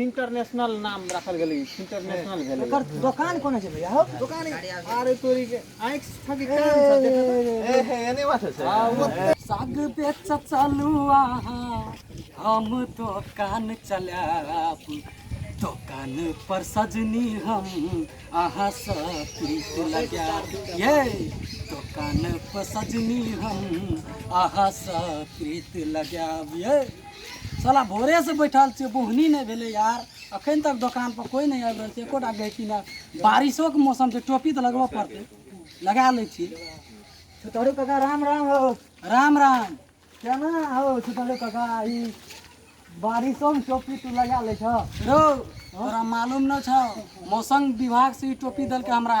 International नाम राखल गेलै इंटरनेशनल भेलै ओकर दोकान कोना छै भैया हो दोकान आरे तोरी के आँख फाकि कान सब देखा ए हे एने बात छै साग बेच चलू अहाँ हम दोकान चलाब दोकान पर सजनी हम अहाँ सब प्रीत लगाब ये दोकान पर सजनी हम अहाँ सब प्रीत लगाब ये साला भोरे से बैठल छियै बोहनी नहि भेलै यार अखन तक दोकान पर कोई नहि आबि रहल छै एकोटा गहकी नहि बारिशो के मौसम छै टोपी तऽ लगबऽ पड़तै लगा लै छी छोटरू काका राम राम हो राम राम केना हो छोटरू काका ई बारिशो में टोपी तू लगा ले छो रो तोरा मालूम न छौ मौसम विभाग से ई टोपी देलकै हमरा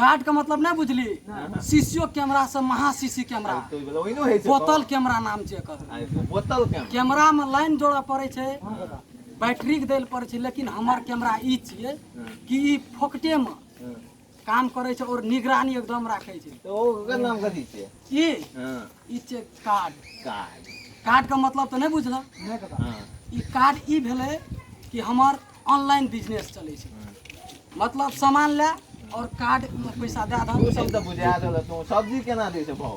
गार्ड के मतलब नहीं बुझली सीसीओ कैमरा से महा सीसी कैमरा बोतल कैमरा नाम छै एकर बोतल कैमरा में लाइन जोड़ा पड़े छै बैटरी के देल पड़े छै लेकिन हमर कैमरा ई छिए कि ई फोकटे में काम करै छै और निगरानी एकदम राखै छै तो ओकर नाम कथी छै ई हां ई छै कार्ड कार्ड कार्ड के मतलब तो नहीं बुझला नहीं पता हां ई कार्ड ई भेलै कि हमर ऑनलाइन बिजनेस चलै छै मतलब सामान ले और कार्ड में पैसा दे दहक ओ सब तऽ बुझा देलक तू सब्जी केना दै छै भाव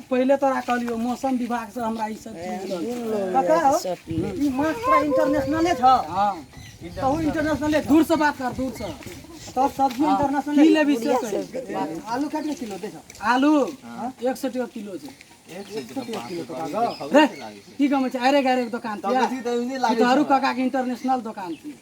पहिले तोरा कहलियो मौसम विभाग से हमरा ई सब चीज मिलल। पता हो ई माछ तोरा इंटरनेशनले छ हां तहु इंटरनेशनले दूर से बात कर दूर से तो सब्जी इंटरनेशनल की लेबी से कही? आलू कितने किलो दे छ आलू एक सौ टका किलो छै रे की कहै छै अरे गारे के दोकान थिया ई तोहरू काका के इंटरनेशनल दोकान थिया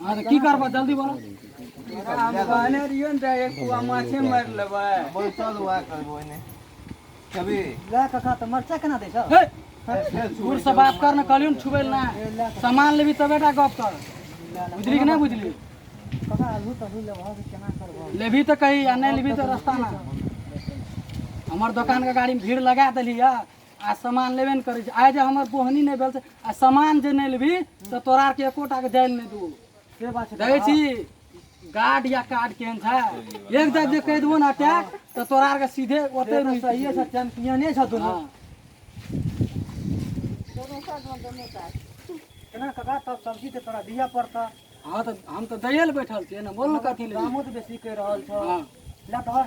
हाँ तो की करबा जल्दी बोलो हम कहने रहियो ने तऽ एक पुआ माछे मारि लेबै बैसल हुआ करबो ने कभी ला कका तऽ मरचा केना दै छौ हे दूर से बात कर न कहलियो ने छुबै ना सामान लेबी तबे टा गप कर बुझली कि नहीं बुझली कका अभी तऽ अभी लेबह कि केना करबह लेबी तऽ कही आ नहीं लेबी तऽ रास्ता ना हमर दुकान के गाड़ी में भीड़ लगा देली है आ सामान लेबे ने करै छै आइ जे हमर बोहनी नहि भेल से आ सामान जे नहि लेबही तऽ तोरा आरके एकोटाके जाय लए नहि देबो से बात छै देखै छी गार्ड या कार्ड केहन छै एक जब जे कहि देबो ने अटैक तऽ तोरा आरके सीधे ओतै रुकि सहिए छै चैंपियने छै दुनू केना कका तब सब्जी तऽ तोरा दिअ पड़तऽ हँ तऽ हम तऽ दैए लए बैठल छियै ने बोल ने कथी ले दामो तऽ बेसी कहि रहल छौ हँ लए तोहर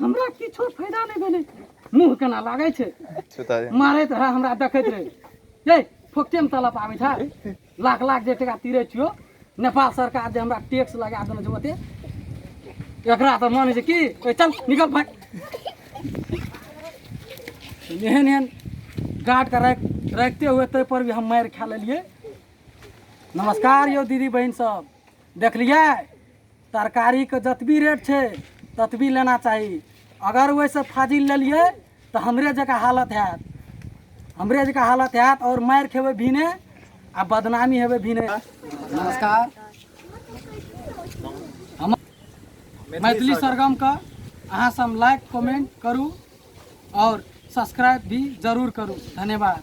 हमरा किछो फायदा नहि भेलै मुँह केना लागै छै मारैत रहै हमरा देखैत रहै हे फोकटेमे तलप आबै छै लाख लाख जे टाका तिरै छियो नेपाल सरकार जे हमरा टैक्स लगा देने छै ओते एकरा तऽ मानै छै कि चल निकल भाग एहन एहन गार्डके राखि राखिते हुए ताहिपर भी हम मारि खा लेलियै नमस्कार यौ दीदी बहिन सब देखलियै तरकारीके जतबी रेट छै ततबी लेना चाही अगर ओहिसँ फाजिल लेलियै तऽ हमरे जकाँ हालत हैत हमरे जकाँ हालत हैत आओर मारि खेबै भीने आ बदनामी हेबै भीने नमस्कार हम मैथिली सरगमके अहाँ सब लाइक कमेंट करू आओर सब्सक्राइब भी जरूर करू धन्यवाद